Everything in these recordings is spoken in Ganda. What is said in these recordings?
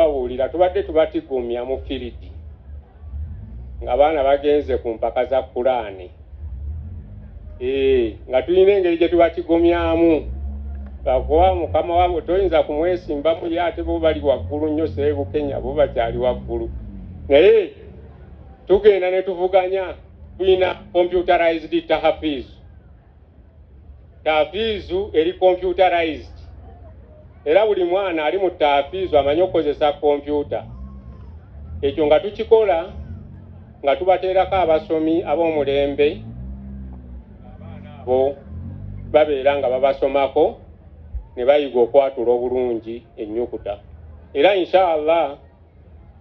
Bawulira tubadde tubatigomya mu firidi nga baana bagenze ku mpaka za kulaani eh, nga tulina engeri gye tubatigomyamu bakuwa mukama wabo toyinza kumwesimbamu ye ate bo bali waggulu nnyo seebukenya bo bakyali waggulu naye tugenda ne tuvuganya tulina computerized tahafiizu Taafiizu eri computerized era buli mwana ali mu taafiizu amanyi okukozesa kompyuta. Ekyo nga tukikola nga tubateerako abasomi ab'omulembe abaana abo babeera nga babasomako ne bayiga okwatula obulungi ennyukuta era inshaallah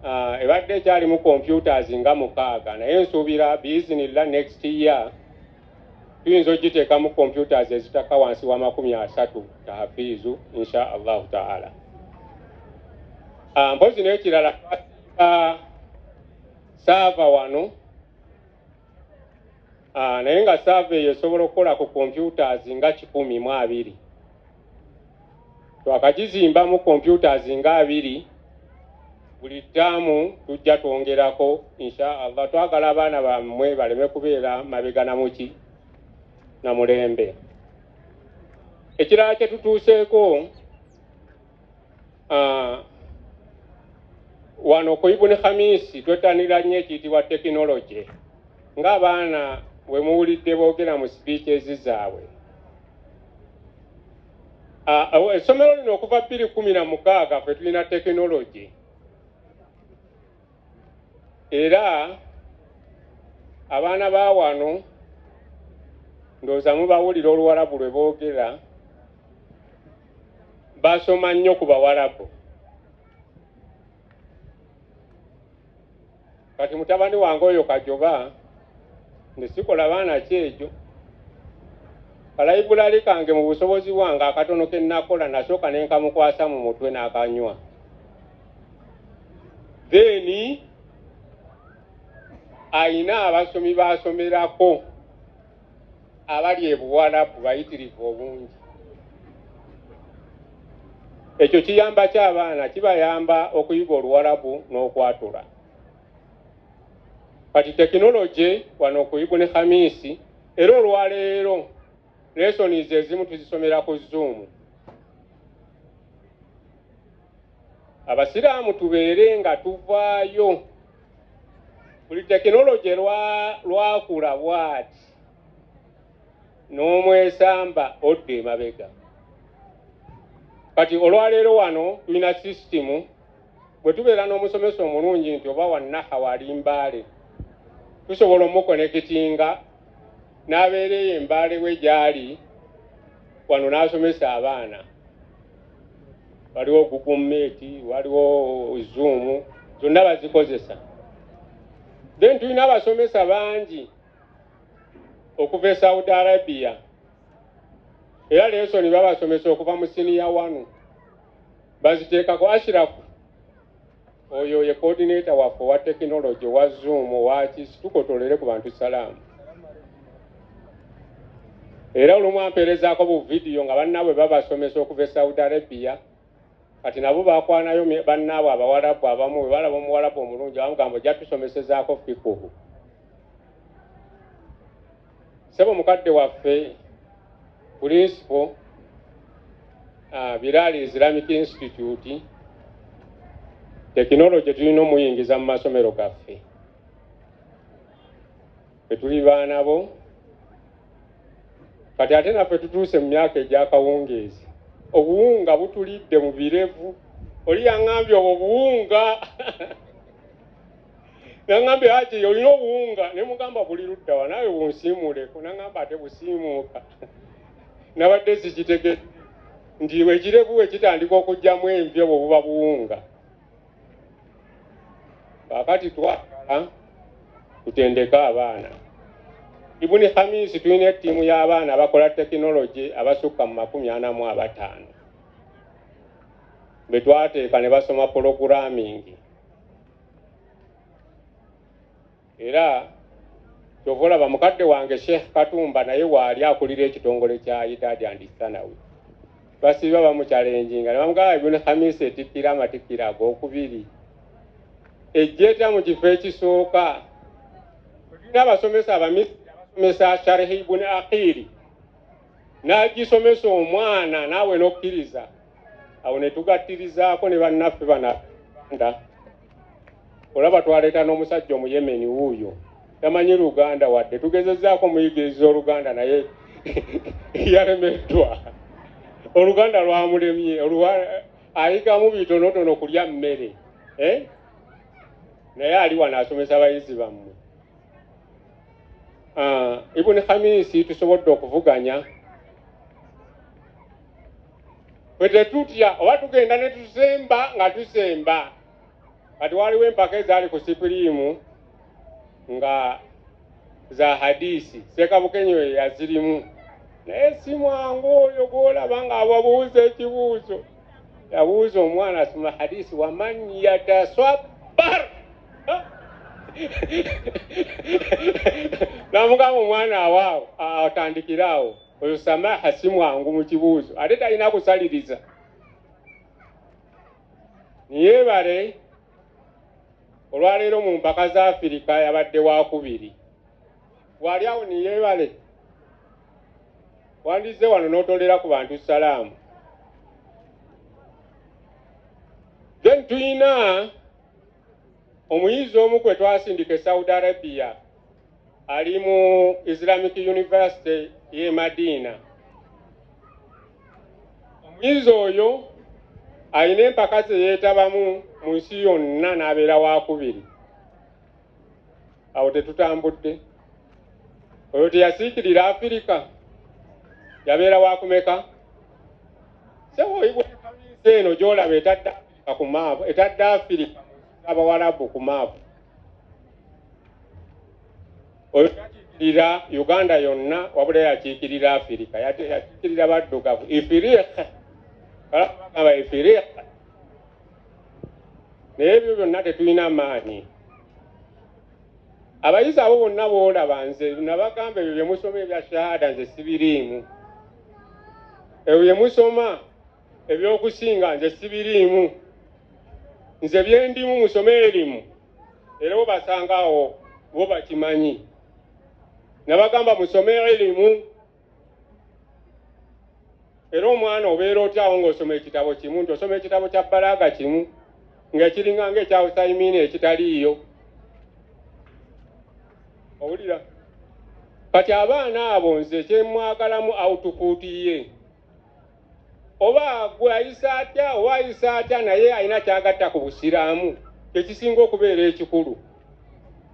uh, ebadde ekyalimu computers nga mukaaga naye nsuubira biizinillah next year tuyinza okugiteekamu computers ezitakka wansi wa makumi asatu tahafiizu insha allahu taala ah, mpozi n'ekirala ah, saava wano ah, naye nga saava eyo esobola okukola ku computers nga kikumi mu abiri Twakagizimbamu computers nga abiri buli ttaamu tujja twongerako insha Allah. Twagala abaana bammwe baleme kubeera mabega na muki na mulembe. Ekirala kye tutuuseeko ah, wano ku Ibuni Khamisi twettanira nnyo ekiyitibwa tekinologye ng'abaana we muwulidde boogera mu sipiiceezi zaabwe. Essomero lino okuva bbiri kumi na mukaaga ffe tulina tekinologi era abaana ba wano ndowooza mubawulira oluwalabu lwe boogera basoma nnyo ku bawalabu kati mutabani wange oyo kajoba nti sikola baana ki ekyo kalayibulali kange mu busobozi bwange akatono ke nnakola nasooka ne nkamukwasa mu mutwe n'akanywa then alina abasomi baasomerako abali e buwalabu bayitirivu obungi ekyo kiyamba ki abaana kibayamba okuyiga oluwalabu n'okwatula kati tekinologi wano kuyigu ne khamisi era olwaleero lesonizi ezimu tuzisomera ku zuumu abasiraamu tubeere nga tuvaayo buli tekinologye lwakula bwati n'omwesamba odda emabega kati olwaleero wano tulina sisitimu bwe tubeera n'omusomesa omulungi nti oba wannaha wali mbaale tusobola omukonekitinga n'abeera eyo embaale we gyali wano n'asomesa abaana waliwo google meet waliwo zoom zonna bazikozesa then tulina abasomesa bangi okuva e saudi arabia era lesoni babasomesa okuva mu siniya wanu baziteekako ashirafu Oyo ye coordinator waffe owa technology owa zoom owaki situkotolere ku bantu salaamu era olumu ampeerezaako bu vidiyo nga bannaabwe babasomesa okuva e saudi arabia kati nabo bakwanayo bannaabwe abawalabu abamu bwe balaba omuwalabu omulungi abamugamba ojja tusomesezaako fikuhu Sebo mukadde waffe Principal uh, Bilal Islamic Institute tekinologye tulina omuyingiza mu masomero gaffe etuli baana bo kati ate naffe tutuuse mu myaka egyakawungeezi obuwunga butulidde mu birevu oli yaŋambye obwo buwunga nangambye haji olina obuwunga nemugamba buli luddawa nawe bunsiimuuleko nangamba ate busiimuuka nabadde zikitege nti ekirevu wekitandika okugyamu envi obwo buba buwunga kakati twagala tutendeke abaana ibuni hamisi tulina ettiimu y'abaana abakola tekinologi abasukka mu makumi ana mu abataano betwateeka ne basoma puloguramingi era kyova olaba mukadde wange sheikh katumba naye waali akulira ekitongole kya idadi and sanawi basiiba bamukyalenjinga nebamugaa ibuni hamisi etikkira amatikkira agokubiri ejjeta mu kifo ekisooka tulina abasomesa abamisiri abasomesa sharihi ibuni akiri n'agisomesa omwana naawe n'okkiriza awo ne tugattirizaako ne bannaffe bananda olaba twaleeta n'omusajja omuyemeni wuuyo tamanyi luganda wadde tugezezzaako omuyigiriza oluganda naye yalemeddwa oluganda lwamulemye ayigamu bitonotono kulya mmere eh? naye ali wano asomesa bayizi bammwe Ah, ibuni khamisi tusobodde okuvuganya bwe tetutya oba tugenda ne tusemba nga tusemba kati waliwo empaka ezaali ku sipiriimu nga za hadisi sekabukenyo yazirimu naye simwangu oyo gwolaba nga ababuuza ekibuuzo yabuuza omwana asoma hadisi waman yataswabar namugamba omwana awaawo atandikire awo oyo samaha si mwangu mu kibuuzo ate talina kusaliriza niyebale olwaleero mu mpaka za afirika yabadde wakubiri wali awo niyebale wandizze wano n'otolera ku bantu salaamu then tuyina omuyizi omu kwe twasindika e saudi arabia ali mu islamic university ye madiina omuyizi oyo alina empaka ze yeetabamu mu nsi yonna n'abeera wakubiri awo tetutambudde oyo teyasiikirira afirika yabeera wakumeka sewoibwa eno gyolaba etadda ku maapu etadde afirika abawalabu ku maapu oyo yakiikirira uganda yonna wabula yakiikirira afirika yakiikirira baddugavu ifiriika kalabagamba ifiriika naye ebyo byonna tetulina maanyi abayizi abo bonna boolaba nze nabagamba ebyo byemusoma ebya shahada nze sibiriimu ebyo byemusoma ebyokusinga nze sibiriimu nze byendimu musome erimu era webasanga awo bo bakimanyi nabagamba musome erimu era omwana obeera otyawo ngaosoma ekitabo kimu nti osoma ekitabo kya balaaga kimu ngaekiringa nga ekyawusaimiini ekitaliiyo owulira kati abaana abo nze kyemwagalamu autupuutiye oba gwe ayisa atya oba ayisa atya naye alina kyagatta ku busiraamu kyekisinga okubeera ekikulu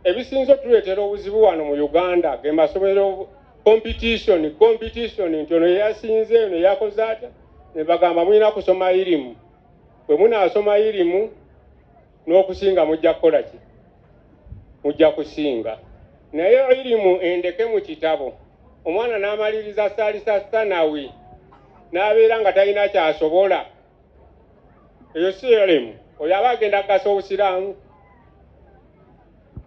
ebisinza otuleetera obuzibu wano mu uganda ge masomero competition competition nti ono yeyasinze eno yakoze atya nebagamba mulina kusoma irimu bwe munaasoma irimu N'okusinga mujja kukola ki? Mujja kusinga. Naye ilimu endeke mu kitabo. Omwana n'amaliriza Salisa Sanawi n'abeera nga talina ky'asobola. Eyo si ilimu. Oyo aba agenda kugasa Obusiraamu.